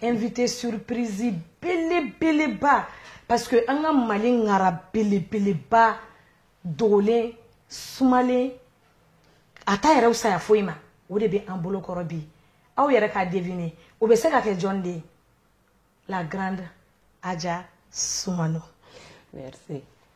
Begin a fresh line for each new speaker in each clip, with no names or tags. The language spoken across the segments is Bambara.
invité surprise belebeleba parce que an ka mali ŋara belebeleba dogolen sumalen a t'a yɛrɛ saya foyi ma o de bɛ an bolo kɔrɔ bi aw yɛrɛ k'a deviner o bɛ se ka kɛ jɔn de ye la grande aja sumano merci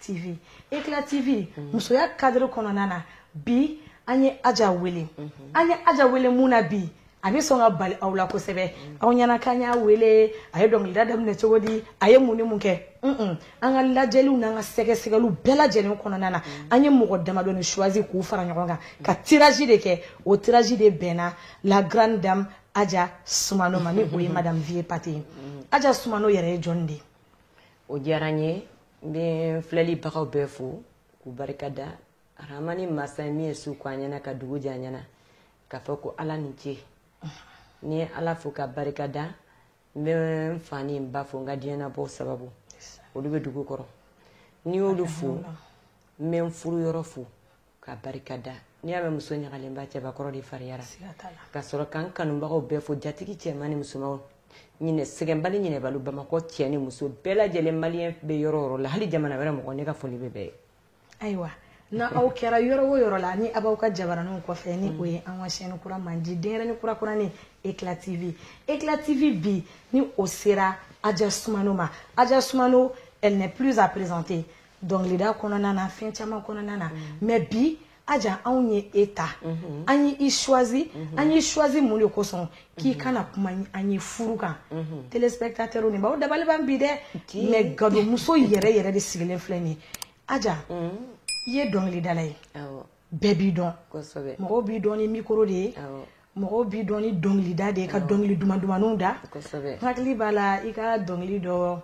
TV Eclat TV musoya cadre kɔnɔna na bi an ye Aja wele an ye Aja wele mun na bi a bɛ sɔn ka bali aw la kosɛbɛ aw ɲɛna k'an y'a wele a ye dɔnkilida daminɛ cogo di a ye mun ni mun kɛ un an ka lajɛliw n'an ka sɛgɛsɛgɛliw bɛɛ lajɛlen kɔnɔna na an ye mɔgɔ damadɔni choisi k'u fara ɲɔgɔn kan ka tirage de kɛ o tirage de bɛnna la grande dame Aja Sumano ma ni o ye madame Vieux Paré ye Aja Sumano yɛrɛ ye jɔni de ye o
diyara n ye n bɛ filɛlibagaw bɛɛ fo k'u barika da aramani masa min ye su ko an ɲɛna ka dugu jɛ an ɲɛna k'a fɔ ko ala ni ce n'i ye ala fo k'a barika da n bɛ n fa ni n ba fo n ka diɲɛnabɔ sababu olu bɛ dugu kɔrɔ n'i y'olu fo n bɛ n furu yɔrɔ fo k'a barika da n'i y'a mɛn muso ɲagalenba cɛbakɔrɔ de fariyara ka sɔrɔ ka n kanubagaw bɛɛ fo jatigi cɛman ni musomanw ɲinɛ sɛgɛnbali ɲinɛbali bamakɔ cɛ ni muso bɛɛ lajɛlen maliyɛn bɛ yɔrɔ o yɔrɔ la hali jamana wɛrɛ mɔgɔ ne ka foli bɛ bɛɛ ye
ayiwa na aw kɛra yɔrɔ o yɔrɔ la ni aw b'aw ka jabaraninw kɔfɛ ni o ye an ka chaîne kura mandi denyɛrɛni kura kuranin eclat tv eclat tv bi ni o sera aja sumano ma aja sumano elle n'est plus à présenter dɔnkilida kɔnɔna na fɛn caman kɔnɔna na mm. mais bi aja anw ye e ta mm-hmm. an ye i choisi mm-hmm. an y'i choisi mun de kosɔn k'i mm-hmm. ka na kuma an ye furu kan téléspectateurs ne b'aw dabali ban bi dɛ mais gadonmuso yɛrɛ yɛrɛ de sigilen filɛ nin aja mm. i ye dɔnkilidala ye bɛɛ b'i dɔn mɔgɔw b'i dɔn ni mikoro de ye mɔgɔw b'i dɔn ni dɔnkilida de ye ka dɔnkili duman dumanninw da n hakili b'a la i ka dɔnkili dɔ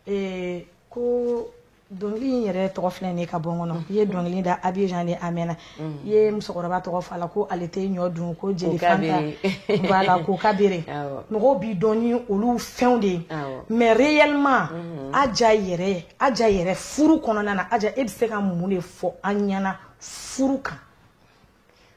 eh, ko dɔnkili in yɛrɛ tɔgɔ filɛ nin ka bɔ n kɔnɔ i ye dɔnkili da abijan de a mɛnna mm. i ye musokɔrɔba tɔgɔ fɔ a la ko ale tɛ ɲɔ dun ko jeli fanta voilà kokabere mɔgɔw b'i dɔn ni olu fɛnw de ye mais réellement mm-hmm. aja yɛrɛ aja yɛrɛ furu kɔnɔna na aja e bɛ se ka mun de fɔ an ɲɛna furu kan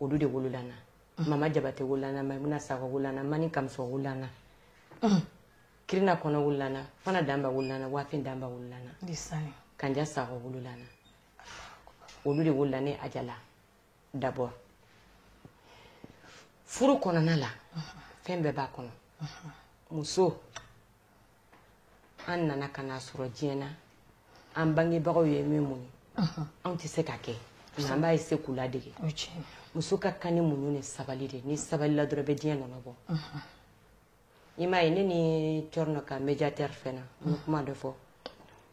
olu de wolola na mama jabate wolola na maimuna sakɔ wolola na mani kamuso wolola na kirina kɔnɔ wolola na fana danba wolola na wafin danba wolola na kanja sakɔ wolola na olu de wolola ne aja la d'abord furu kɔnɔna la fɛn bɛɛ b'a kɔnɔ muso an nana ka na sɔrɔ diɲɛ na an bangebagaw ye min muɲu anw tɛ se ka kɛ nka an b'a essayer k'u ladege muso ka kan ni muɲu ni sabali de ni sabali la dɔrɔn bɛ diɲɛ nɔnɔ bɔ i m'a ye ne ni cɔrɔnɔ ka médiateur fɛn na n ye kuma dɔ fɔ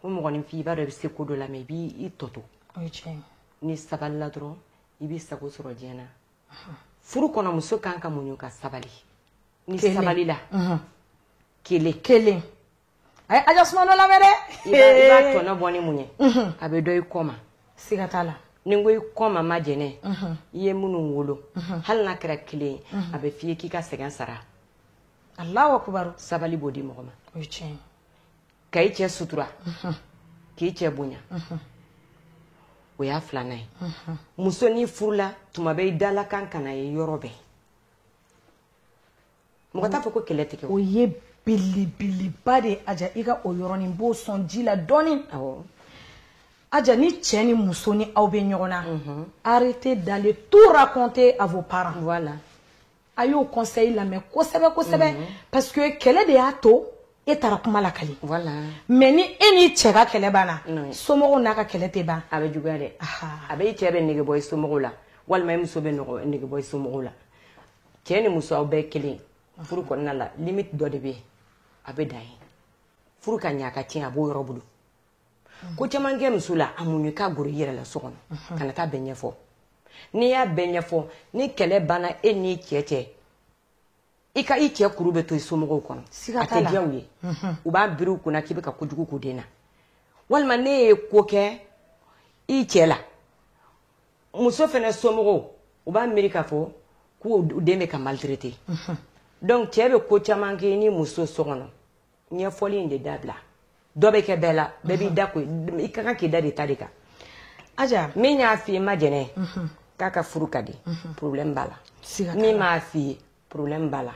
ko mɔgɔninfin i b'a dɔn i bɛ se ko dɔ la mais i b'i tɔto ni sabali la dɔrɔn i b'i sago sɔrɔ diɲɛ na furu kɔnɔ muso kan ka muɲu ka sabali ni sabali la kelen
kelen a ye aja sumano lamɛn dɛ i b'a
tɔnɔ bɔ n'i muɲu a bɛ dɔn i kɔ ma siga t'a la
ni n ko i kɔ ma
majɛnɛ i ye minnu wolo hali n'a kɛra kelen ye a bɛ f'i ye k'i ka sɛgɛn sara
alahu akubaru sabali b'o di mɔgɔ ma
o ye
tiɲɛ ye ka
i cɛ sutura k'i cɛ bonya o y'a filanan ye muso n'i furula tuma bɛɛ i dalakan kana ye yɔrɔ bɛɛ mɔgɔ t'a fɔ ko kɛlɛ tɛ kɛ o
ye belebeleba de ye aja i ka o yɔrɔnin b'o sɔn ji la dɔɔnin aja ni cɛ ni muso ni aw bɛ ɲɔgɔn na mhm. arrêtez d'aller tout raconter à vos parents voilà a y'o conseil lamɛn kosɛbɛ
kosɛbɛ
mhm. parce que kɛlɛ de y'a to e taara kuma lakali voilà mais
ni e
n'i cɛ ka kɛlɛ banna somɔgɔw n'a ka kɛlɛ tɛ ban a bɛ juguya dɛ
a bɛ i cɛ bɛ nege bɔ i somɔgɔw la walima i muso bɛ nege bɔ i somɔgɔw la cɛ ni muso aw bɛɛ kelen furu kɔnɔna la limite dɔ de bɛ yen a bɛ dan ye furu ka ɲɛ a ka tiɲɛ a b'o yɛrɛ bolo ko caman kɛ muso la a muɲu k'a goro i yɛrɛ la so kɔnɔ kana taa bɛɛ ɲɛfɔ n'i y'a bɛɛ ɲɛfɔ ni kɛlɛ banna e n'i cɛ cɛ i ka i cɛ kuru bɛ to i somɔgɔw kɔnɔ a tɛ diya u ye u b'a biri u kunna k'i bɛ ka kojugu k'u den na walima n'e ye ko kɛ i cɛ la muso fana somɔgɔw u b'a miiri k'a fɔ k'u den bɛ ka maltraiter donc cɛ bɛ ko caman kɛ ni muso so kɔnɔ ɲɛfɔli in de dabila dɔ bɛ kɛ bɛɛ la bɛɛ b'i da ko i ka kan k'i da de ta de kan
aja min y'a f'i ye
majɛnɛ k'a ka furu ka di problème b'a la min m'a f'i ye problème b'a la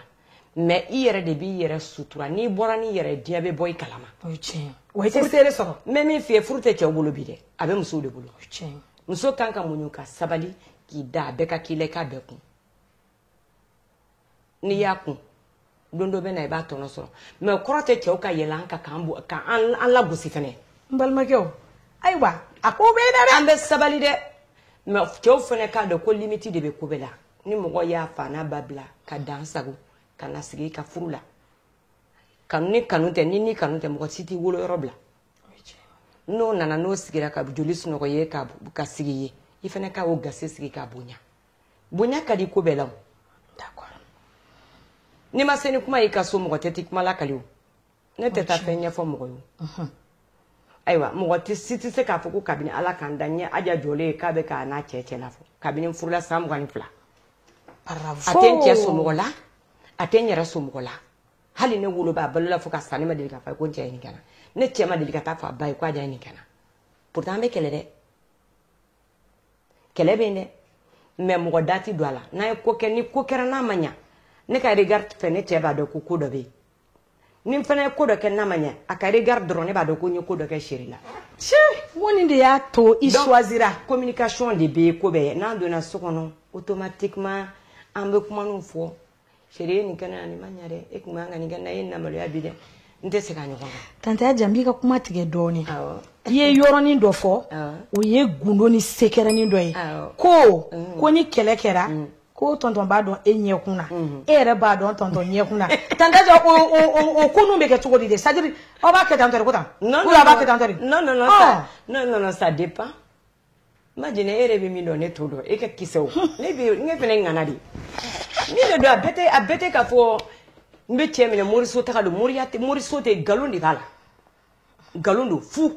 mais i yɛrɛ de b'i yɛrɛ sutura n'i bɔra n'i yɛrɛ diɲɛ bɛ bɔ i kalama o
ye tiɲɛ wa i tɛ seere sɔrɔ n bɛ min f'i ye furu tɛ
cɛw bolo bi dɛ a bɛ musow de bolo o ye tiɲɛ muso
kan ka muɲu
ka sabali k'i da a bɛɛ kan k'i la i k'a bɛɛ kun n'i y'a kun don dɔ bɛ na i b'a tɔnɔ sɔrɔ mais o kɔrɔ tɛ cɛw ka yɛlɛn an kan k'an bɔ k'an an lagosi fɛnɛ n balimakɛw
ayiwa a ko bɛɛ da dɛ an bɛ sabali dɛ
mais cɛw fɛnɛ k'a dɔn ko limite de bɛ ko bɛɛ la ni mɔgɔ y'a fa n'a ba bila ka dan sagon ka na sigi i ka furu la kanu ni kanu tɛ ni ni kanu tɛ mɔgɔ si t'i wolo yɔrɔ bila n'o nana n'o sigira ka joli sunɔgɔ ye ka ka sigi ye i fɛnɛ ka o gasi sigi k'a bonya bonya ka di ko bɛɛ la o n'i ma se ni kuma y'i ka so mɔgɔ tɛ t'i kuma lakali o ne tɛ taa fɛn ɲɛfɔ mɔgɔ ye ayiwa mɔgɔ si tɛ se k'a fɔ ko kabini ala k'an da ɲɛ aja jɔlen ye k'a bɛ k'a n'a cɛ cɛ la fɔ kabini n furula san mugan ni fila a tɛ n cɛ somɔgɔ la a tɛ n yɛrɛ somɔgɔ la hali ne woloba balola fo ka sa ne ma deli k'a fɔ ko n cɛ ye nin kɛ na ne cɛ ma deli ka taa fɔ a ba ye ko aja ye nin kɛ na pourtant an bɛ kɛlɛ dɛ kɛlɛ bɛ yen dɛ mais mɔgɔ da tɛ don a la n'an ye ko kɛ ni ko kɛra n'a ma ɲa ne ka regard fɛ ne cɛ b'a dɔn ko ko dɔ bɛ yen ni n fana ye ko dɔ kɛ n'a ma ɲɛ a ka regard dɔrɔn ne b'a dɔn ko n ye ko dɔ kɛ chérie la cɛ wo nin
de y'a to i choisira communication de bɛ
ko bɛɛ n'an donna so kɔnɔ automatiquement an bɛ kuma ninnu fɔ chérie ye nin kɛ na nin ma ɲɛ dɛ e tun man ka nin kɛ na e ye n namaloya bi dɛ n tɛ segin a ɲɔgɔn kan tante aja n b'i
ka kuma tigɛ dɔɔnin i ye yɔrɔnin dɔ fɔ o ye gundo ni sekɛrɛnin dɔ ye ko ko ni kɛlɛ kɛra mm. ko tonton b'a dɔn e ɲɛkun na e yɛrɛ b'a dɔn tonton ɲɛkun na tante aja o ko ninnu bɛ kɛ cogo di de c'est à dire aw b'a kɛ tan de ko tan b'a kɛ tan de non non
ça dépend imagine e yɛrɛ bɛ min dɔn ne t'o dɔn e ka kisɛ o ne fana ŋana de min don a a bɛɛ tɛ k'a fɔ n bɛ cɛ minɛ moriso taa don mori moriso tɛ nkalon de b'a la nkalon don fu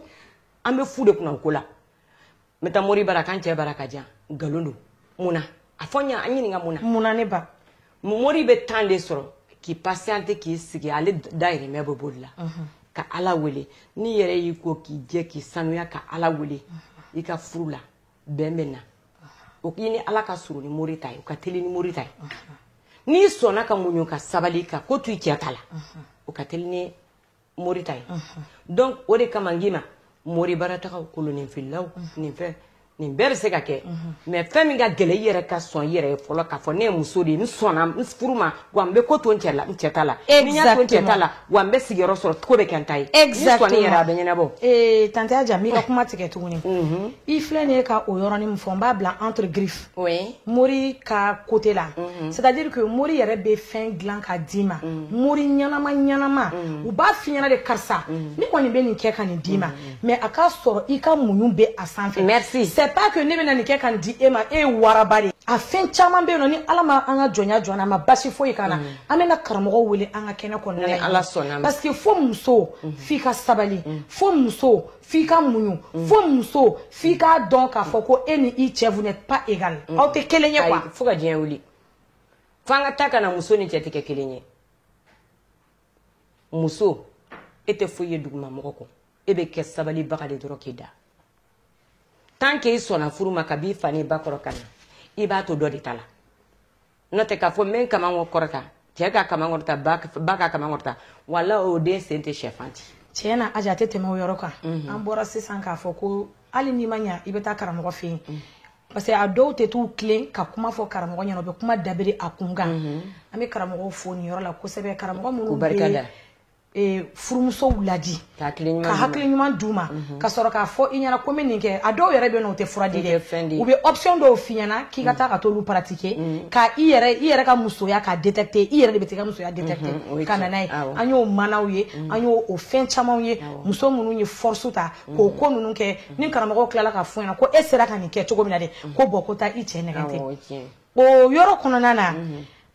an bɛ fu de kunna ko la n bɛ taa mori bara ka n cɛ baara ka jan nkalon don mun na a fɔ n ɲa an ɲininka mun na mun na ne
ba mori
bɛ temps de sɔrɔ k'i patienter k'i sigi ale dayirimɛ bɛ boli la ka ala wele n'i yɛrɛ y'i ko k'i jɛ k'i sanuya ka ala wele i ka furu la bɛn bɛ na o k'i ni ala ka surun ni mori ta ye o ka teli ni mori ta ye n'i sɔnna ka muɲu ka sabali ka ko to i cɛ ta la o ka teli ni mori ta ye donc o de kama n k'i ma mori baratagaw kolonninfililaw nin fɛn nin bɛɛ bɛ se ka kɛ mais fɛn min ka gɛlɛ i yɛrɛ ka sɔn i yɛrɛ ye fɔlɔ k'a fɔ ne ye muso de ye n sɔnna n furu ma wa n bɛ ko to n cɛ la n cɛ ta la ni n y'a to n cɛ ta la wa n bɛ sigiyɔrɔ sɔrɔ ko bɛ kɛ n ta ye n'i sɔnna i yɛrɛ a bɛ ɲɛnabɔ ee tante aja n b'i ka kuma
tigɛ tuguni i filɛ nin ye ka o yɔrɔnin min fɔ n b'a bila entre griffes mori ka côté la mm-hmm. c'est à dire que mori yɛrɛ bɛ fɛn dilan ka d'i ma mm-hmm. mori ɲɛnama ɲɛnama mm-hmm. u b'a f'i ɲɛna de karisa ne kɔni bɛ nin kɛ ka nin d'i ma mais a k'a sɔrɔ i ka muɲu bɛ a sanfɛ merci c'est pas
que ne bɛna
nin kɛ ka nin di e ma e ye waraba de a fɛn caman bɛ yen non ni ala ma an ka jɔnya jɔ n'a ma basi foyi k'an na an bɛna karamɔgɔ wele an ka kɛnɛ kɔnɔna la parce que fo
muso
f'i ka sabali fo muso f'i ka muɲu mm. fo muso f'i k'a dɔn k'a fɔ ko e ni i cɛ vous n'êtes pas égal mm. aw tɛ kelen ye quoi fo ka diɲɛ wuli
fo an ka taa ka na muso ni cɛ tɛ kɛ kelen ye muso e tɛ foyi ye duguma mɔgɔ kɔ e bɛ kɛ sabalibaga de dɔrɔn k'i da tant que i sɔnna furu ma ka b'i fa n'i ba kɔrɔ ka na i b'a to dɔ de ta la n'o tɛ k'a fɔ n bɛ n kaman kɔrɔta cɛ ka kaman kɔrɔta ba ka kaman kɔrɔta wala o den sen tɛ sɛfan ci tiɲɛ na aja a tɛ tɛmɛ
o yɔrɔ kan mhm. an bɔra sisan k'a fɔ ko hali n'i ma ɲa i bɛ taa karamɔgɔ fɛ yen mhm. parce que a dɔw tɛ t'u tilen ka kuma fɔ karamɔgɔ ɲɛna u bɛ kuma dabiri a kun kan mhm. an bɛ karamɔgɔw fo nin yɔrɔ la kosɛbɛ karamɔgɔ minnu bɛ Eh, furumusow ladi ka
hakili ɲuman d'
u ma mhm. ka sɔrɔ k'a fɔ i ɲɛna ko n bɛ nin kɛ a dɔw yɛrɛ bɛ yen nɔ u tɛ fura di dɛ u bɛ option dɔw f'i ɲɛna k'i ka mhm. taa ka t'olu pratiquer mhm. ka i yɛrɛ i yɛrɛ ka musoya k'a détecter i yɛrɛ de bɛ t'i ka musoya détecter ka na n'a ye an y'o manaw ye an y'o o fɛn camanw ye muso minnu ye force ta k'o ko ninnu kɛ ni karamɔgɔ tilala k'a f'i ɲɛna ko e sera ka nin kɛ cogo min na de ko bon ko taa i cɛ nɛgɛ tɛ o yɔrɔ kɔnɔna na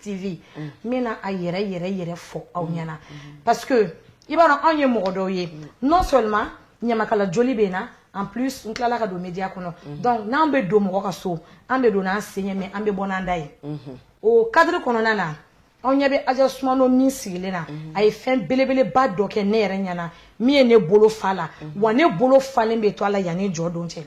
TV n bɛna a yɛrɛ yɛrɛ yɛrɛ fɔ aw ɲɛna parce que i b'a dɔn anw ye mɔgɔ dɔw ye non seulement ɲamakala joli bɛ n na en plus n tilala ka don media kɔnɔ donc n'an bɛ don mɔgɔ ka so an bɛ don n'an sen ye mais an bɛ bɔ n'an da ye o cadre kɔnɔna na aw ɲɛ bɛ aja sumano min sigilen na a ye fɛn belebeleba dɔ kɛ ne yɛrɛ ɲɛna min ye ne bolo fa la wa ne bolo falen bɛ to a la yanni jɔ don cɛ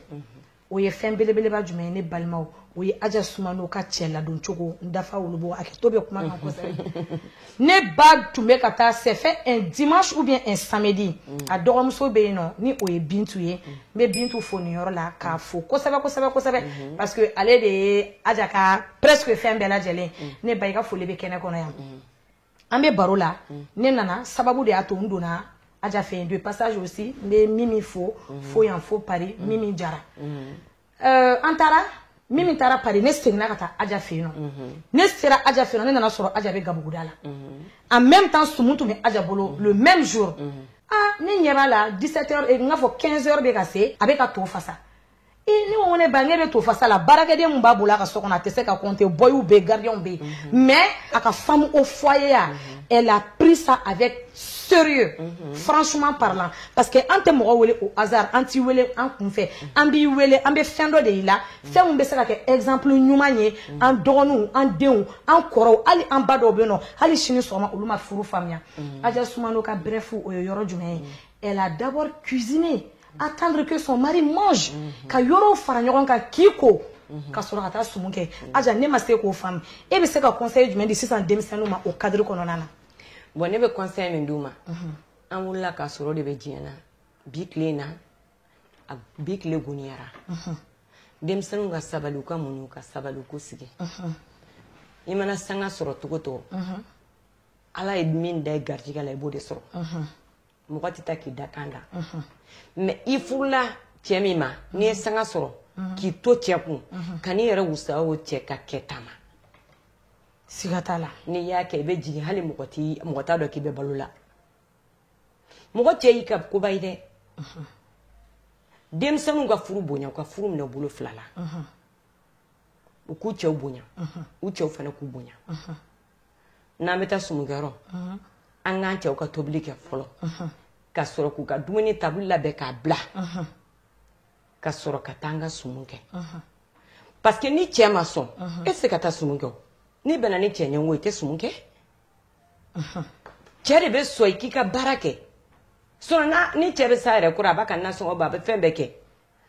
o ye fɛn belebeleba jumɛn ye ne balimaw o ye aja sumano ka cɛ ladon cogo n dafa wolobo a kɛtɔ bɛ kuma kan kosɛbɛ ne ba tun bɛ ka taa c'est fait un dimanche ou bien un samedi a dɔgɔmuso bɛ yen nɔ ni o ye bintu ye n bɛ bintu fo nin yɔrɔ la k'a fo kosɛbɛ kosɛbɛ kosɛbɛ parce que ale de ye aja ka presque fɛn bɛɛ lajɛlen ne ba i ka foli bɛ kɛnɛ kɔnɔ yan an bɛ baro la ne nana sababu de y'a to n donna aja fɛ yen de passage aussi n bɛ mimi fo fo yan fo paris mimi jara euh, an taara mimi taara paris ne seginna ka taa aja fɛ yen nɔ ne sera aja fɛ yen nɔ ne nana sɔrɔ aja bɛ gabuguda la en même temps sumu tun bɛ aja bolo le même jour ah ne ɲɛ b'a la 17 heures eh, n k'a fɔ 15 heures bɛ ka se a bɛ ka to fasa ne ko ne ba ne bɛ to fasa la baarakɛden min b'a bolo a ka so kɔnɔ a tɛ se ka compter bɔyiw bɛ yen gardien bɛ yen mhm. mais a ka femme au foyer ya mhm. elle a pris ça avec sérieux mhm. franchement parlant parce que an tɛ mɔgɔ wele au hasard an t'i wele an kun fɛ an b'i wele an bɛ fɛn dɔ de y'i la fɛn min bɛ se ka kɛ exemple ɲuman ye an dɔgɔninw an denw an kɔrɔw hali an ba dɔw bɛ yen nɔ hali sini sɔgɔma olu ma furu faamuya Aja Sumano ka bref o ye yɔrɔ jumɛn ye elle a d'abord cuisiné attendre que son mari mange mhm. ka yɔrɔw fara ɲɔgɔn kan k'i ko mhm. ka sɔrɔ ka taa sumu kɛ mhm. aja ne ma se k'o faamu e bɛ se ka conseil jumɛn di sisan denmisɛnninw ma o cadre kɔnɔna na bon ne bɛ
conseil min d'u ma an wulila k'a sɔrɔ de bɛ diɲɛ na bi tile in na a bi tile goniyara denmisɛnninw ka sabali u ka muɲu ka sabali u k'u sigi i mana sanga sɔrɔ cogo o cogo ala ye min da i garijɛgɛ la i b'o de sɔrɔ mɔgɔ tɛ taa k'i da kan da mais i furula cɛ min ma n'i ye sanga sɔrɔ k'i to cɛ kun ka n'i yɛrɛ wasa o cɛ ka kɛta
ma siga t'a la n'i y'a kɛ i bɛ jigin
hali mɔgɔ t'a dɔn k'i bɛ balo la mɔgɔ cɛ y'i ka koba ye dɛ denmisɛnninw ka furu bonya u ka furu minɛ bolo fila la u k'u cɛw bonya u cɛw fana k'u bonya n'an bɛ taa sumukɛyɔrɔ an k'an cɛw ka tobili kɛ fɔlɔ ka sɔrɔ k'u ka dumuni tabali labɛn k'a bila ka sɔrɔ ka taa an ka sumu kɛ parce que ni cɛ ma sɔn e tɛ se ka taa sumu kɛ n'i bɛnna ni cɛ ɲɛngo i tɛ sumu kɛ cɛ de bɛ sɔn i k'i ka baara kɛ sinon ni cɛ bɛ s'a yɛrɛ kɔrɔ a b'a ka nasɔngɔ bɔ a bɛ fɛn bɛɛ kɛ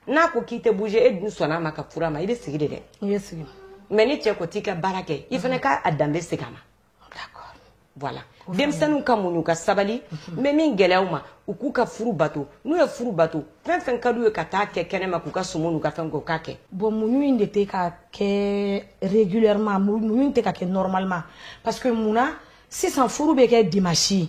n'a ko k'i tɛ bouger e dun sɔnna a ma ka furu a ma i bɛ sigi de dɛ i bɛ
sigi mais ni cɛ ko
t'i ka baara kɛ i fana k'a danbe segin a ma d'accord
voilà
denmisɛnninw ka muɲu ka sabali n bɛ min gɛlɛya u ma u k'u ka furu bato n'u ye furu bato fɛn fɛn ka d'u ye ka taa kɛ kɛnɛma k'u ka sumu n'u ka fɛn k'u k'a kɛ bon muɲu in de
tɛ ka kɛ régulièrement muɲu in tɛ ka kɛ normalement parce que mun na sisan furu bɛ kɛ dimanche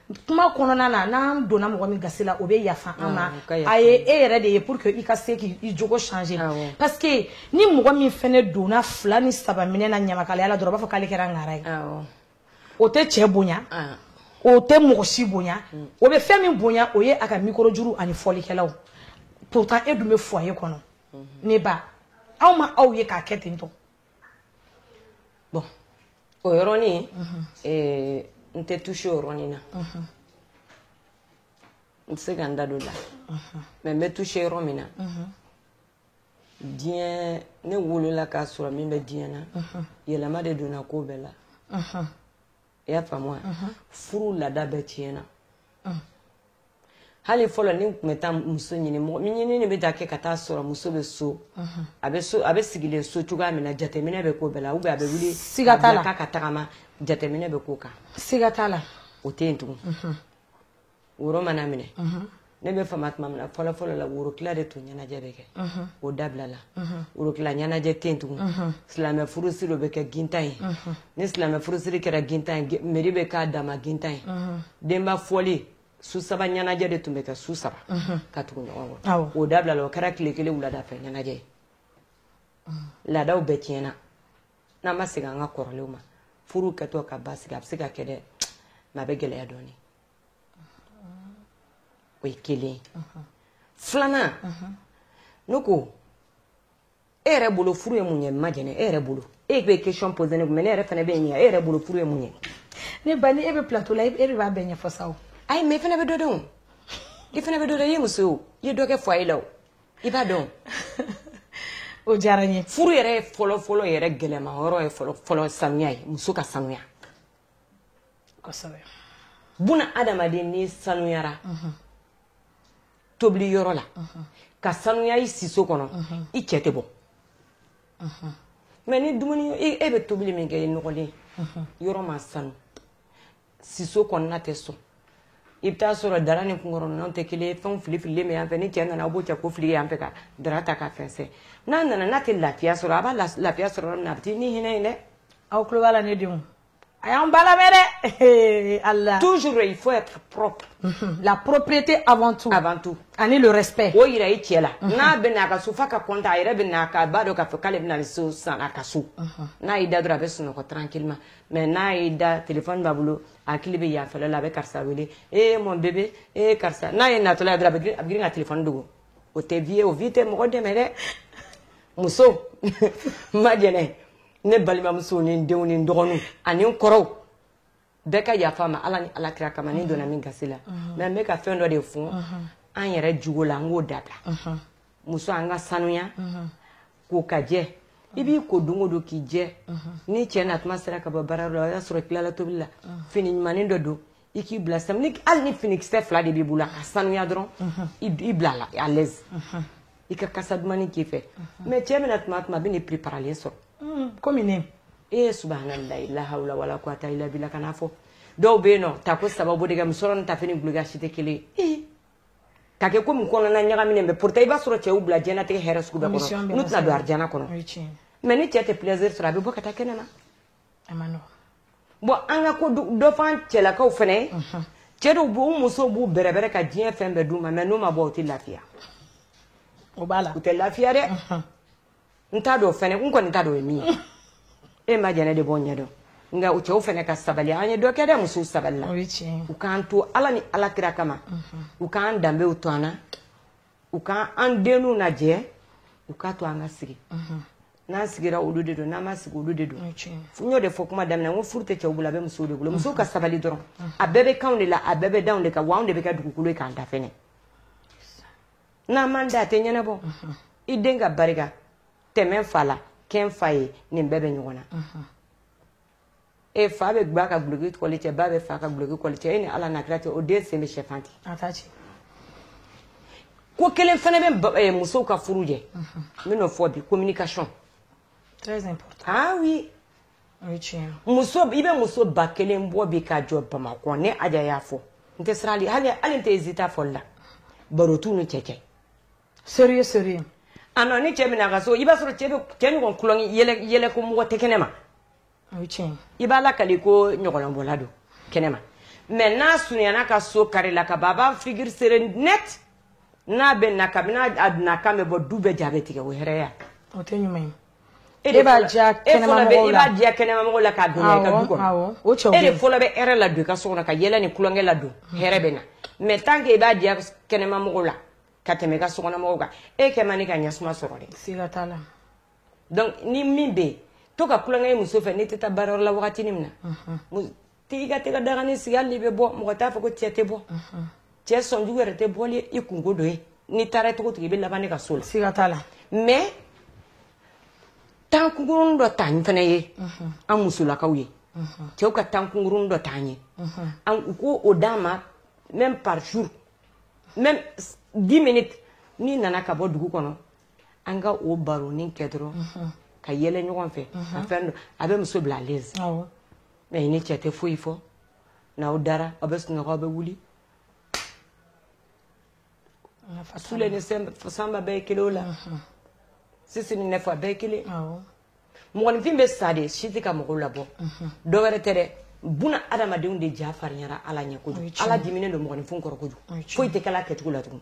kuma kɔnɔna na n'an donna mɔgɔ min gasi la o bɛ yafa an ma a ye e yɛrɛ de ye pour que i ka se k'i jogo changer parce que ni mɔgɔ min fana donna fila ni saba minɛ na ɲamakalaya la dɔrɔn a b'a fɔ k'ale kɛra ŋara ye o tɛ cɛ bonya o tɛ mɔgɔ si bonya mm. o bɛ fɛn min bonya o ye a ka mikoro juru ani fɔlikɛlaw pourtant e dun bɛ foyer kɔnɔ mm-hmm. ne ba aw ma aw ye k'a kɛ ten tɔ
bon o yɔrɔnin eh, n tɛ toucher o yɔrɔnin na n tɛ se ka n da don la mais n bɛ toucher yɔrɔ min na diɲɛ ne wolola k'a sɔrɔ min bɛ diɲɛ na yɛlɛma de donna ko bɛɛ la i y'a faamu wa furu laada bɛɛ tiɲɛna hali fɔlɔ n'i tun bɛ taa muso ɲini mɔgɔ ɲini de bɛ taa kɛ ka taa sɔrɔ muso bɛ so a bɛ sigilen so cogoya min na jateminɛ bɛ k'o bɛɛ la ou bien a bɛ wuli siga t'a la ka tagama jateminɛ bɛ k'o kan siga t'a la
o tɛ yen tugun
woro mana minɛ ne bɛ fama tuma min na fɔlɔfɔlɔ la worotila de tun ɲɛnajɛ bɛ kɛ o dabilala worotila ɲɛnajɛ tɛ yen tugun silamɛ furusiri dɔ bɛ kɛ gintan ye ni silamɛ furusiri kɛra gintan ye meri bɛ k'a dama gintan ye denba fɔli su saba ɲɛnajɛ de tun bɛ kɛ su saba ka tugu ɲɔgɔn kɔ o dabilala o kɛra tile kelen wulada fɛ ɲɛnajɛ ye laadaw bɛɛ tiɲɛna n'an ma segin an ka kɔrɔlenw ma furu kɛtɔ ka basigi a bɛ se ka kɛ dɛ mais a bɛ gɛlɛya dɔɔnin o ye kelen filanan ne ko e yɛrɛ bolo furu ye mun ye ma jɛnɛ e yɛrɛ bolo e bɛ question poser ne kun mais ne yɛrɛ fana bɛ ɲininka e yɛrɛ bolo furu ye mun ye ne ba ni e
bɛ plateau la e de b'a bɛɛ ɲɛfɔ sa o ayi mais e fana bɛ dɔ dɔn
o i fana bɛ dɔ dɔn i ye muso ye o i ye dɔ kɛ foyer la o i b'a dɔn
o diyara n ye furu yɛrɛ fɔlɔ fɔlɔ
yɛrɛ gɛlɛma yɔrɔ ye fɔlɔ fɔlɔ sanuya ye muso ka sanuya buna adamaden n'i sanuyara tobili yɔrɔ la ka sanuya i siso kɔnɔ i cɛ tɛ bɔ mais ni dumuni e bɛ tobili min kɛ i nɔgɔlen yɔrɔ ma sanu siso kɔnɔna tɛ sɔn i bɛ taa sɔrɔ dara ni kunkɔrɔnɔn tɛ kelen ye fɛnw filifililen bɛ yan fɛ ni cɛ nana a b'o cɛ k'o fili yan fɛ ka dara ta ka fɛnsɛn n'a nana n'a tɛ lafiya sɔrɔ a b'a lafiya sɔrɔ yɔrɔ min na a bɛ taa ni hinɛ ye dɛ aw tulo b'a la ne
denw a y'an ba lamɛn dɛ ala toujours il faut
être propre mhm. la
propriété avant tout avant tout ani le respect o yira i cɛ la
mhm. n'a bɛ na a ka so f'a ka content a yɛrɛ bɛ na k'a b'a dɔn k'a fɔ k'ale bɛna ni so san a ka so mhm. n'a y'i da dɔrɔn a bɛ sunɔgɔ tranquillement mais n'a y'i da téléphone b'a bolo hakili bɛ yanfɛla la a bɛ karisa wele ee mon bébé ee karisa n'a y'e natɔla ye dɔrɔn a bɛ girin ka téléphone dogo o tɛ vie ye o vie tɛ mɔgɔ dɛmɛ dɛ muso ma jɛnɛ ne balimamusow ni n denw ni n dɔgɔninw ani n kɔrɔw bɛɛ ka yafa n ma ala ni ala kira kama ni n donna min gasi la mais n bɛ ka fɛn dɔ de fɔ an yɛrɛ jogo la an k'o dabila muso an ka sanuya k'o ka jɛ i b'i ko don o don k'i jɛ ni cɛ na tuma sera ka bɔ baara la o y'a sɔrɔ i tilala tobili la fini ɲumanin dɔ don i k'i bila sa hali ni finikisɛ fila de b'i bolo a ka sanuya dɔrɔn i bila la à l'aise i ka kasa dumannin k'i fɛ mais cɛ bɛna tuma tuma a bɛ n'i préparalen sɔrɔ kɔmi
ne subhanallahi
la hawla wala quwwata illa billah k'a fɔ dɔw bɛ yen nɔ ta ko sababu de ka musɔrɔ tafe ni dulɔki si tɛ kelen ka kɛ komi kɔnɔna ɲagaminen bɛ pourtant i b'a sɔrɔ cɛ y'u bila diɲɛnatigɛ hɛrɛ sugu bɛɛ kɔnɔ n'u tɛna don arijana kɔnɔ mais ni cɛ tɛ plaisir sɔrɔ a bɛ bɔ ka taa kɛnɛ na bon an ka ko dɔ f'an cɛlakaw fana cɛ dɔw b'u u musow b'u bɛrɛbɛrɛ ka diɲɛ fɛn bɛɛ d'u ma mais n'u ma bɔ u tɛ lafiya
o b'a la u tɛ lafiya dɛ
n t'a dɔn fɛnɛ n kɔni t'a dɔn o ye min ye e ma jɛnɛ de b'o ɲɛdɔn nka u cɛw fɛnɛ ka sabali an ye dɔ kɛ dɛ musow sabali la u k'an to ala ni ala kira kama u k'an danbew to an na u k'an an denw lajɛ u k'a to an ka sigi n'an sigira olu de don n'an ma sigi olu de don n y'o de fɔ kuma daminɛ ko furu tɛ cɛw bolo a bɛ musow de bolo musow ka sabali dɔrɔn a bɛɛ bɛ k'anw de la a bɛɛ bɛ d'anw de kan wa anw de bɛ kɛ dugukolo ye k'an da fɛnɛ n'an m'an da a tɛ ɲɛnabɔ i den ka barika tɛmɛ fa la kɛ n fa ye nin bɛɛ bɛ ɲɔgɔn na e fa bɛ ba ka guloki kɔli cɛ ba bɛ fa ka guloki kɔli cɛ e ni ala n'a kira cɛ o den sen bɛ sɛfan ti ko kelen fana bɛ eh, musow ka furu jɛ n bɛn'o fɔ bi communication très
important ah oui
muso i bɛ muso ba kelen bɔ bi ka jɔ bamakɔ ne aja y'a fɔ n tɛ siran hali n tɛ hésiter fɔli la baro t'u ni cɛ cɛ
sérieux ah
non ni cɛ bɛ na a ka so i b'a sɔrɔ cɛ ɲɔgɔn tulonkɛ yɛlɛ ko mɔgɔ tɛ kɛnɛ ma i b'a lakali ko ɲɔgɔlɔnbɔla don kɛnɛ ma mais n'a surunyana ka so carré la ka ban a b'a figure serré net n'a bɛ na kabini a donna kan bɛ bɔ du bɛɛ ja bɛ tigɛ o hɛrɛya o tɛ ɲuman ye
E de b'a diya kɛnɛmamɔgɔw la, e fana bɛ, e b'a diya kɛnɛmamɔgɔw la
k'a don i ka du kɔnɔ, awɔ, awɔ, o cɛw bɛ yen, e de fɔlɔ bɛ hɛrɛ ladon i ka so kɔnɔ ka yɛlɛ ni tulonkɛ ladon hɛrɛ bɛ na mais tant que i b'a diya kɛnɛmamɔgɔw la ka tɛmɛ i ka sokɔnɔmɔgɔw kan e kɛ man di ka ɲɛsuma sɔrɔ dɛ, siga t'a la,
donc
ni min bɛ yen to ka tulonkɛ i muso fɛ n'i tɛ taa baarayɔrɔ la wagatinin min na to k'i ka te dagani sigi hali n'i bɛ bɔ mɔgɔ t'a fɔ ko cɛ tɛ bɔ cɛ sɔnjugu yɛrɛ tɛ bɔ ni i kunko dɔ ye n'i taara cogo cogo i bɛ laban ne ka so la siga t'a la
mais
temps kunkuruni dɔ t'an fana ye an musolakaw ye cɛw ka temps kunkuruni dɔ t'an ye u k'o d'an ma même par jour même 10 minutes n'i nana ka bɔ dugu kɔnɔ an ka o baronin kɛ dɔrɔn ka yɛlɛ ɲɔgɔn fɛ ka fɛn dɔ a bɛ muso bila à l'aise mais i ni cɛ tɛ foyi fɔ n'aw dara aw bɛ sunɔgɔ aw bɛ wuli sule ni sanba bɛɛ ye kelen o la sisi ni nɛfɔ a bɛɛ ye kelen mɔgɔninfin bɛ sa de si tɛ ka mɔgɔw labɔ dɔ wɛrɛ tɛ dɛ buna adamadenw de ja farinyara ala ɲɛ kojugu ala diminen don mɔgɔninfin kɔrɔ kojugu foyi tɛ kɛla kɛcogo la tugun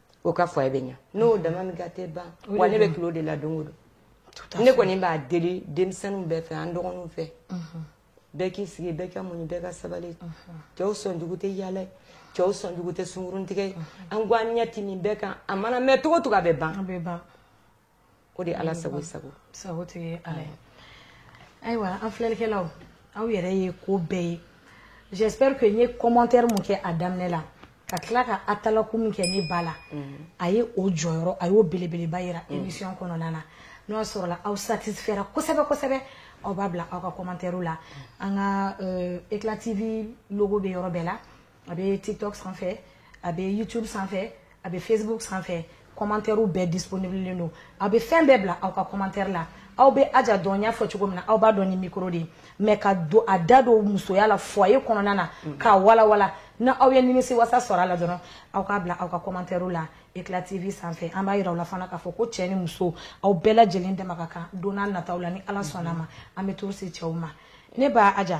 o ka fɔ e bɛ ɲa n'o dama min ka tɛ ban wa ne bɛ tulo de la don o don ne kɔni b'a deli denmisɛnninw bɛɛ fɛ an dɔgɔninw fɛ bɛɛ k'i sigi bɛɛ ka muɲu bɛɛ ka sabali cɛw sɔnjugu tɛ yaala cɛw sɔnjugu tɛ sunguruntigɛ an k'an ɲɛ ti nin bɛɛ kan a mana mɛn cogo cogo a bɛ ban o de ye ala sago sago sagotigi ye
ala ye ayiwa an filɛlikɛlaw aw yɛrɛ ye ko bɛɛ ye j'espère que n ye commentaire min kɛ a daminɛ la ka tila ka atalaku min kɛ ne ba la mm. a ye o jɔyɔrɔ a y'o belebeleba yira mm. émission kɔnɔna na n'o y'a sɔrɔla aw satisfaira kosɛbɛ kosɛbɛ aw b'a bila aw ka commentaire la mm. an ka euh, éclat tv logo bɛ yɔrɔ bɛɛ la a bɛ tiktok sanfɛ a bɛ youtube sanfɛ a bɛ facebook sanfɛ kɔmantɛriw bɛɛ disponible don a bɛ fɛn bɛɛ bila aw ka kɔmantɛri la aw bɛ aja dɔn n y'a fɔ cogo min na aw b'a dɔn ni mikoro de ye mais ka don a da don musoya la foyer kɔnɔna na mm. k'a walawala n'aw ye nimisi wasa sɔrɔ a la dɔrɔn aw k'a bila aw ka kɔmantɛriw la eclat tv sanfɛ an b'a yira aw la fana k'a fɔ ko cɛ ni muso aw bɛɛ lajɛlen dama ka kan don nataw la ni ala sɔnna ma an bɛ to se cɛw ma ne ba aja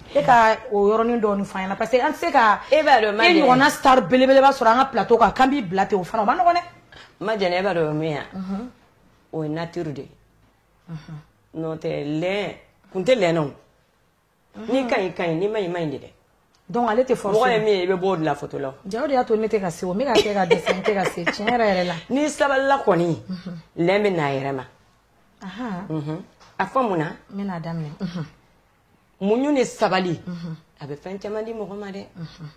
E ka o yɔrɔnin dɔɔnin fɔ an ɲɛna parce que an tɛ se ka e ɲɔgɔnna star belebeleba sɔrɔ an ka plateau kan k'an b'i bila ten o fana ma nɔgɔn dɛ majɛnɛ e b'a
dɔn min yan o ye natiri de ye n'o tɛ lɛn kun tɛ lɛn na n'i ka ɲi ka ɲi n'i ma ɲi ma ɲi de dɛ dɔnku ale tɛ
fɔ ye min i bɛ bɔ o de la
photo la ja o de y'a to ne tɛ
ka se o n bɛ ka kɛ ka dɛsɛ n tɛ ka se tiɲɛ yɛrɛ yɛrɛ la n'i sabalila kɔni
lɛn bɛ n'a yɛrɛ ma a fɔ mun na n bɛn'a daminɛ muɲu ni sabali mhm. a bɛ fɛn caman di mɔgɔ ma dɛ mhm.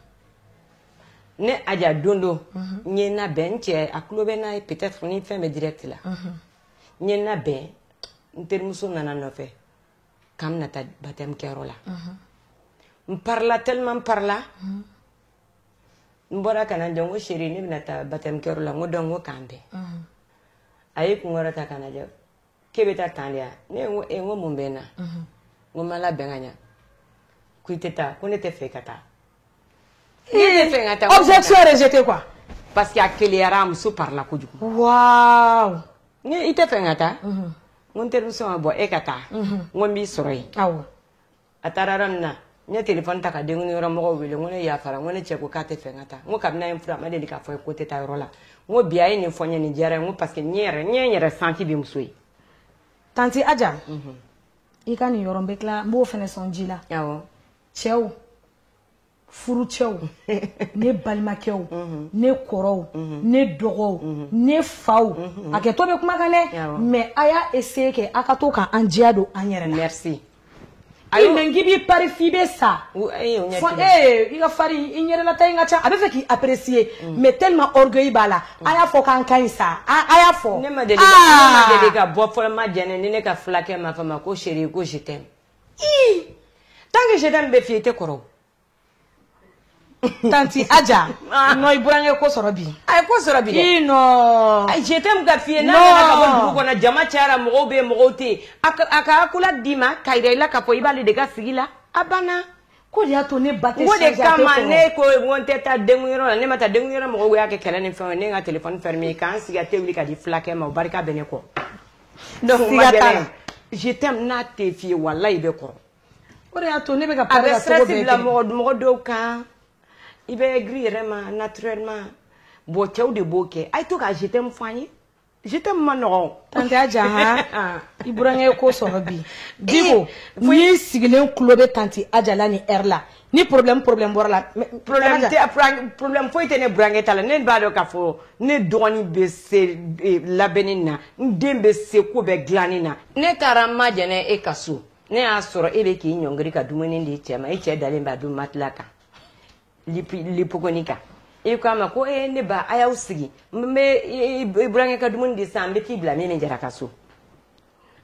ne aja don don mhm. n ye n labɛn n cɛ a tulo bɛ n'a ye peut-être ni fɛn bɛ direct la n ye n labɛn n terimuso nana n nɔfɛ k'an bɛna taa baptême kɛyɔrɔ la n parila tellement n parila n bɔra ka na jɔ n ko chérie ne bɛna taa baptême kɛyɔrɔ la n ko donc n ko k'an bɛn a ye kun kɔrɔta ka n lajɛ k'e bɛ taa tan de wa ne ko n ko mun bɛ n na n ko n ma labɛn ka ɲa ko i tɛ taa ko ne tɛ fɛ i ka taa ne tɛ fɛ ka taa
objection rejetée quoi parce que a
keleyara a muso parila kojugu
waaw ne i tɛ
fɛ n ka taa n ko n terimuso ma bɔ e ka taa n ko n b'i sɔrɔ yen awɔ
a taara
yɔrɔ min na n ye telefɔni ta ka denkundi yɔrɔ mɔgɔw wele n ko ne yafara ko ne cɛ ko k'a tɛ fɛ n ka taa n ko kabini a ye n furu a ma deli k'a fɔ n ye ko n tɛ taa yɔrɔ la n ko bi a ye nin fɔ n ye nin diyara n ko parce que n yɛrɛ n ye n yɛrɛ santi bi muso ye
tanti aja mhm. i ka nin yɔrɔ n bɛ tila n b'o fana sɔn ji la awɔ cɛw furucɛw ne balimakɛw ne kɔrɔw ne dɔgɔw ne faw hakɛto bɛ kuma kan dɛ mais a y'a essayer kɛ aw ka to ka an diya don an yɛrɛ la
ayi
mais k'i b'i pari f'i bɛ sa fɔ ee i ka fari i ɲɛda la ta in ka ca a bɛ fɛ k'i apprécier mais tellement orgueil b'a la a y'a fɔ k'an ka ɲi sa a y'a fɔ ne ma
deli ka bɔ fɔlɔ majɛnɛ ni ne ka fulakɛ ma fɔ n ma ko chérie ko je t'aime ii tant que je t'aime bɛ f'i ye i tɛ
kɔrɔ tanti aja non i burankɛ ko sɔrɔ bi a ye ko sɔrɔ bi dɛ
non a je
t'aime ka f'i
ye n'a nana ka bɔ dugu kɔnɔ jama cayara mɔgɔw bɛ yen mɔgɔw tɛ yen a ka accolade d'i ma ka yira i la k'a fɔ i b'ale de ka sigi la a banna o de y'a to
ne ba tɛ o de kama
ne ko n ko n tɛ taa denkun yɔrɔ la ne ma taa denkun yɔrɔ mɔgɔw y'a kɛ kɛlɛ ni fɛnw ye ne ka telefɔni fermé ka n sigi ka te wuli ka di fulakɛ ma o barika bɛ ne kɔ Donc o ma diya ne ye. je t'aime n'a tɛ f'i ye walayi i bɛ kɔrɔ o de y'a
to ne bɛ ka a bɛ stress bila
mɔgɔ mɔgɔ dɔw kan i bɛ aigri yɛrɛ ma naturellement bon cɛw de b'o kɛ a ye to ka je t'aime fɔ an ye je t'aime man nɔgɔn tanti aja
han i burankɛ ye ko sɔrɔ bi diko n'i sigilen tulo bɛ tanti aja la nin heure la ni problème problème bɔra a la problème
tɛ problème foyi tɛ ne burankɛ ta la ne b'a dɔn k'a fɔ ne dɔgɔnin bɛ se e, labɛnni na n den bɛ se ko bɛɛ dilanni na ne taara n ma jɛnɛ e ka so ne y'a sɔrɔ e bɛ k'i ɲɔngiri ka dumuni di cɛ ma e cɛ dalen b'a dun matelas kan lipogoni kan i ko a ma ko ee ne ba a y'aw sigi n bɛ burankɛ ka dumuni di sisan n bɛ t'i bila min ni jara ka so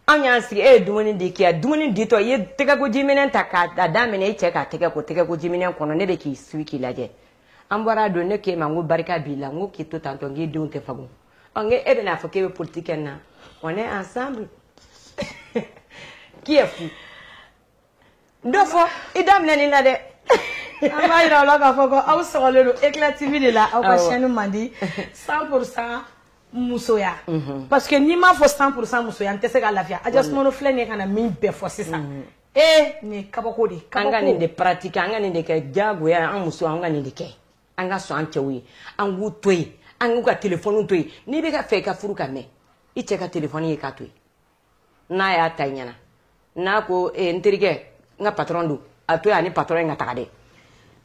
an y'an sigi e ye dumuni di k'i dumuni ditɔ i ye tɛgɛkojiminɛn ta k'a daminɛ i cɛ k'a tɛgɛ ko tɛgɛkojiminɛn kɔnɔ ne bɛ k'i suivre k'i lajɛ an bɔra don ne k'e ma n ko barika b'i la n ko k'i to tantɔ n k'i denw tɛ fagun ɔ n ko e bɛna fɔ k'e bɛ politiki kɛ n na on est ensemble qui est fou N dɔ fɔ i daminɛ nin na dɛ an
b'a jira aw la k'a fɔ ko aw sɔgɔlen don Eclat TV de la aw ka chaîne man di 100% musoya parce que n'i m'a fɔ 100% musoya an tɛ se ka lafiya aja sumaworo filɛ nin ye ka na min bɛɛ fɔ sisan e nin ye kabako de an ka nin de
pratiquer an ka nin de kɛ jagoya an musow an ka nin de kɛ an ka sɔn an cɛw ye an k'u to yen an k'u ka téléphone to yen n'i bɛ k'a fɛ i ka furu ka mɛn i cɛ ka téléphone ye k'a to yen n'a y'a ta i ɲɛna n'a ko eh, n terikɛ n ka patɔrɔn don a to yen ani patɔrɔn in ka taga dɛ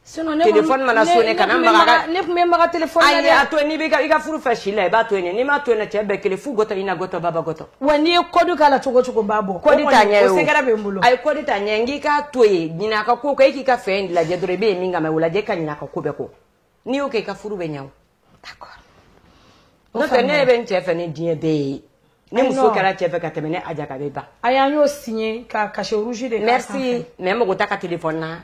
telefɔni mana sone kana maga ne tun bɛ maga telefɔni
na dɛ a to yen n'i bɛ i ka
furu fɛ si la i b'a to yen n'i m'a to yen cɛ bɛɛ kelen fu gɔtɔ i na gɔtɔ baba gɔtɔ wa n'i ye kɔdi
k'a la cogo cogo n b'a bɔ kɔdi t'a ɲɛ o secret
bɛ n bolo a ye kɔdi
t'a ɲɛ n k'i
k'a to yen ɲinɛ a ka ko kɔ e k'i ka fɛn lajɛ dɔrɔn i bɛ yen min kama o lajɛ ka ɲinɛ a ka ko bɛɛ kɔ n'i y'o kɛ i ka furu bɛ ɲɛ o d'accord n'o tɛ ne yɛrɛ bɛ n cɛ fɛ ni diɲɛ bɛɛ ye ni muso kɛra cɛ fɛ ka tɛmɛ ne aja kan a bɛ ban a y'an y'o signé
ka cachet rouge de k'a sanfɛ merci mais n mago
t'a ka téléphone na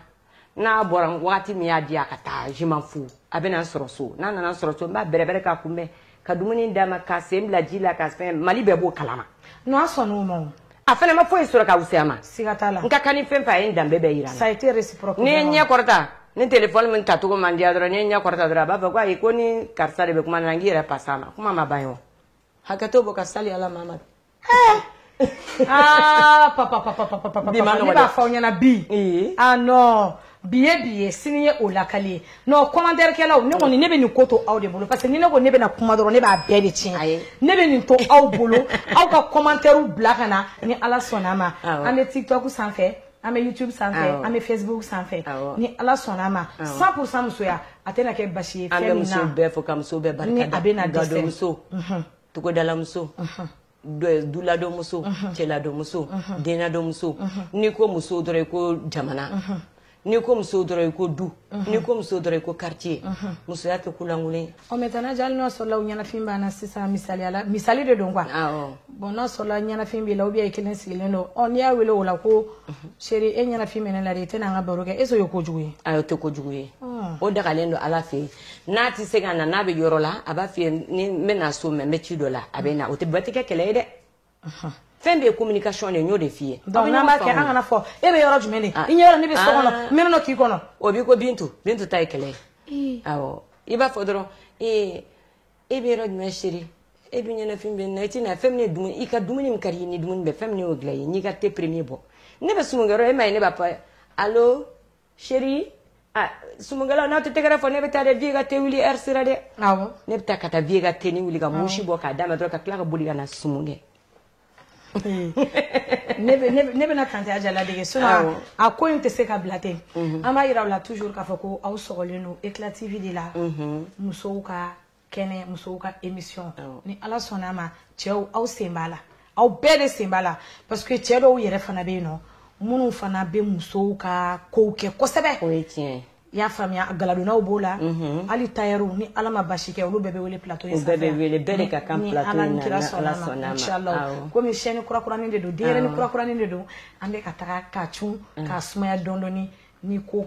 n'a bɔra wagati min y'a di a ka taa je m'en fous a bɛna n sɔrɔ so n'a nana n sɔrɔ so n b'a bɛrɛbɛrɛ k'a kunbɛn ka dumuni d'a ma k'a sen bila ji la ka fɛn mali bɛɛ b'o kalama n'a sɔnna
ma a fana ma foyi sɔrɔ
ka wuya ma siga t'a la n ka kan ni
fɛn fɛn a ye
n danbe bɛɛ jira sa ni n
ye n ɲɛ
kɔrɔta ni téléphone min tacogo man diya dɔrɔn ni n ɲɛ kɔrɔta dɔrɔn a b'a fɔ ko ayi ko ni karisa de bɛ kuma na n k'i yɛrɛ passer a ma kuma ma ban ye hakɛ to bɔ ka sali ala ma
aa papa papa papa papa Bi man papa nɔgɔ ne b'a dɛ. fɔ aw ɲɛna bi Ee. ah non bi ye bi ye sini ye o lakali ye non commentaire kɛlaw ne kɔni ne bɛ nin ko to aw de bolo parce que ni ne ko ne bɛna kuma dɔrɔn ne b'a bɛɛ de tiɲɛ Ayi. ne bɛ nin to aw bolo aw ka commentaire bila ka na ni ala sɔnna ma Awɔ. an bɛ tiktok sanfɛ an bɛ youtube sanfɛ Awɔ. an bɛ facebook sanfɛ Awɔ. ni ala sɔnna ma 100% musoya a tɛna kɛ basi ye an fɛn bɛ min muso na bɛɛ fo ka muso
bɛɛ ni barika da bɛna dɛsɛ gadonmuso togodalamuso duladɔmuso cɛladɔmuso denadɔmuso n'i ko muso dɔrɔn i ko jamana n'i ko muso dɔrɔn i ko du n'i ko muso dɔrɔn i ko quartier musoya tɛ ko lankolon ye maintenant hali n'a
sɔrɔla ɲɛnafin b'an na sisan misaliya la misali de don quoi bon n'a sɔrɔla ɲɛnafin b'i la ou bien i kelen sigilen don ɔ n'i y'a wele o la ko chérie e ɲɛnafin bɛ ne la de i tɛna an ka baro kɛ est ce que o ye kojugu ye ayi o tɛ kojugu ye
o dagalen don ala fɛ yen n'a tɛ se ka na n'a bɛ yɔrɔ la a b'a f'i ye ni n bɛ na so mɛ n bɛ ci dɔ la a bɛ na o tɛ bɛɛ tɛ kɛ kɛlɛ ye dɛ fɛn bɛɛ ye communication de ye n y'o de f'i ye donc n'an b'a kɛ an kana fɔ
e bɛ yɔrɔ jumɛn de i ɲɛ yɔrɔ ne bɛ so kɔnɔ n mɛnna k'i kɔnɔ o b'i ko Bintu
Bintu ta ye kɛlɛ ye awɔ i b'a fɔ dɔrɔn ee e bɛ yɔrɔ jumɛn chérie e dun ɲɛnafin bɛ n na i tɛ na fɛn min ye dumuni i ka dumuni min ka di i ye ni dumuni bɛ fɛn min y'o dilan i ye n'i ka thé premier bɔ ne bɛ sumunkɛyɔrɔ e m'a ye ne b'a fɔ allo Chérie sumunkɛlaw n'aw tɛ tɛgɛrɛ fɔ ne bɛ taa dɛ Vieux ka thé wuli heure sera dɛ ne bɛ taa ka taa Vieux ka thé nin wuli ka mousse bɔ k'a d'a ma dɔrɔn ka tila ka boli ka na sumun kɛ
ne bɛna Tanti Adja ladege sinon a ko in tɛ se ka bila ten an b'a yira aw la toujours k'a fɔ ko aw sɔgɔlen don Eclat TV de la musow ka kɛnɛ musow ka émission ni ala sɔnna ma cɛw aw sen b'a la aw bɛɛ de sen b'a la parce que cɛ dɔw yɛrɛ fana bɛ yen nɔ minnu fana bɛ musow ka kow kɛ kosɛbɛ o ye tiɲɛ ye
i y'a faamuya
galadonnaw b'o la mhm. hali tailleurw ni ala ma basi kɛ olu bɛɛ bɛ wele plateau in sanfɛ bɛɛ bɛ wele bɛɛ de ka
kan plateau in na ni ala sɔnna
ma inshallah komi chaîne kurakuranin de don denyɛrɛnin kurakuranin de don an bɛ ka taga k'a cun k'a sumaya dɔɔni dɔɔni ni ko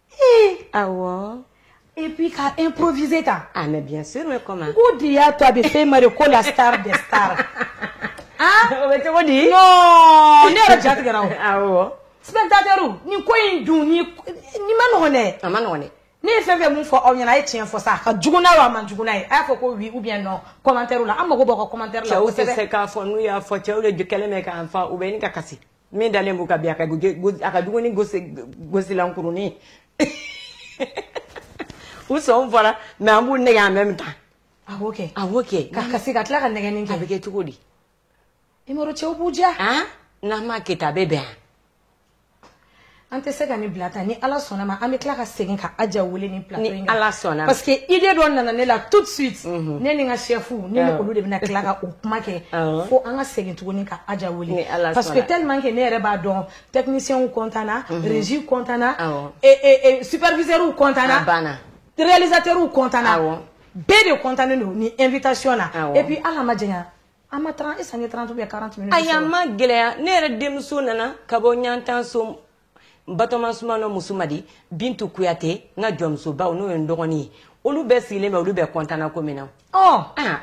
Ayiwa
et puis ka improviser ta ah mais bien sûr
comment o de y'a to a
bɛ fɔ a ma Mariko la star des stars aa
o bɛ cogo di ne yɛrɛ
ja
tigɛra
spectateurs nin ko in dun nin man nɔgɔ dɛ a man nɔgɔ ne
ye fɛn fɛn min
fɔ aw ɲɛna a ye tiɲɛ fɔ sa ka jugu' a man jugu' ye a'a fɔ ko oui ou bien non commentaire la an mako b'o commentaire la o tɛ se k'a fɔ n'u y'a
fɔ cɛw de kɛlen k'an fa u bɛ kasi min dalen b'u ka vieux ka a ka dununin gosilan kurunin u sɔn fɔra mais an b'u nɛgɛn en même temps ah ok
ah ok ka
kasi ka tila ka
nɛgɛnni kɛ a bɛ kɛ cogo
di
Imoro cɛw b'u ja n'an ma
kɛ a bɛ bɛn yan
An tɛ se ka nin bila tan ni ala sɔnna ma an bɛ tila ka segin ka Adja wele nin plateau in kan ni ala sɔnna parce
que idée dɔ
nana ne la tout de suite ne ni n ka chefw ne olu de bɛna tila ka o kuma kɛ fo an ka segin tuguni ka Adja wele parce que tellement que ne yɛrɛ b'a dɔn technicienw kɔntanna régie kɔntanna superviseurw kɔntanna banna
réalisateurw
kɔntanna bɛɛ de kɔntannen don nin invitation na et puis ala ma an ma trente e sanga trente ou quarante tɛmɛ ayi a ma
gɛlɛya ne yɛrɛ denmuso nana ka bɔ ɲantan so batoma sumano muso madi bintu kuyate n ka jɔnmusobaw n'o ye n dɔgɔnin ye olu bɛɛ sigilen bɛ olu bɛɛ kɔntana ko min na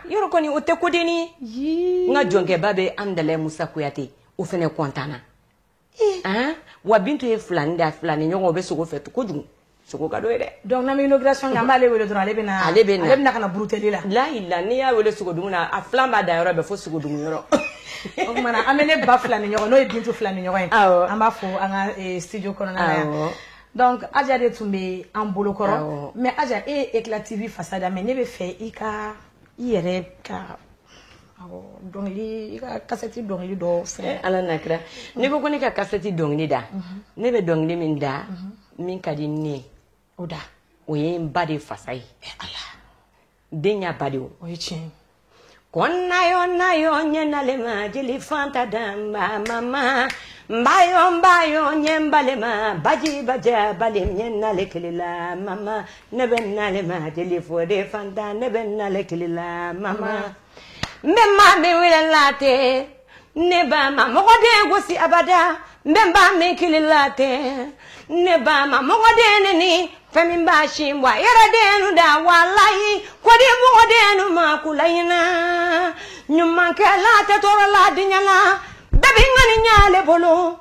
yɔrɔ kɔni o tɛ kodennin ye n ka jɔnkɛba bɛ hamdalayi musa kuyate o fana kɔntana ah, wa bintu ye filani da filani ɲɔgɔn o bɛ sogo fɛ kojugu sogo ka d'o ye dɛ donc n'an bɛ inauguration
kɛ an b'ale wele dɔrɔn ale bɛna ale bɛna ale bɛna ka na buruteli la lahila n'i y'a wele
sogodumu na a filan b'a da yɔrɔ bɛɛ fo sogodumu yɔrɔ o tuma
na an bɛ ne ba filani ɲɔgɔn n'o ye bintu filani ɲɔgɔn ye an b'a fo an ka eh, studio kɔnɔna na yan donc aja de tun bɛ an bolo kɔrɔ mais aja e ye eclat tv fasa da mais ne b'a fɛ i ka i yɛrɛ ka Dɔnkili kasɛti dɔnkili dɔ fɛ ala n'a
kira ne ko ko ne ka kasɛti dɔnkili da ne bɛ dɔnkili min da min ka di ne o da
o ye n ba
de fasa ye den ba de o ye
tiɲɛ ko
na yo na yo n ye n na le ma jeli fanta danba mama n ba yo n ba yo n ye n ba le ma baji baja ba le n ye n na le kili la mama ne bɛ n na le ma jeli fode fanta ne bɛ n na le kili la mama n bɛ maa min wele la tɛ ne ba ma mɔgɔden gosi abada n bɛ ba min kili la tɛ ne ba ma mɔgɔden neni fɛn min ba si bɔ a yɛrɛ dennu da walayi k'o di mɔgɔdennu ma kulayiina ɲumankɛ la tɛ tɔɔrɔ la diɲa la bɛɛ b'i ŋaniya le bolo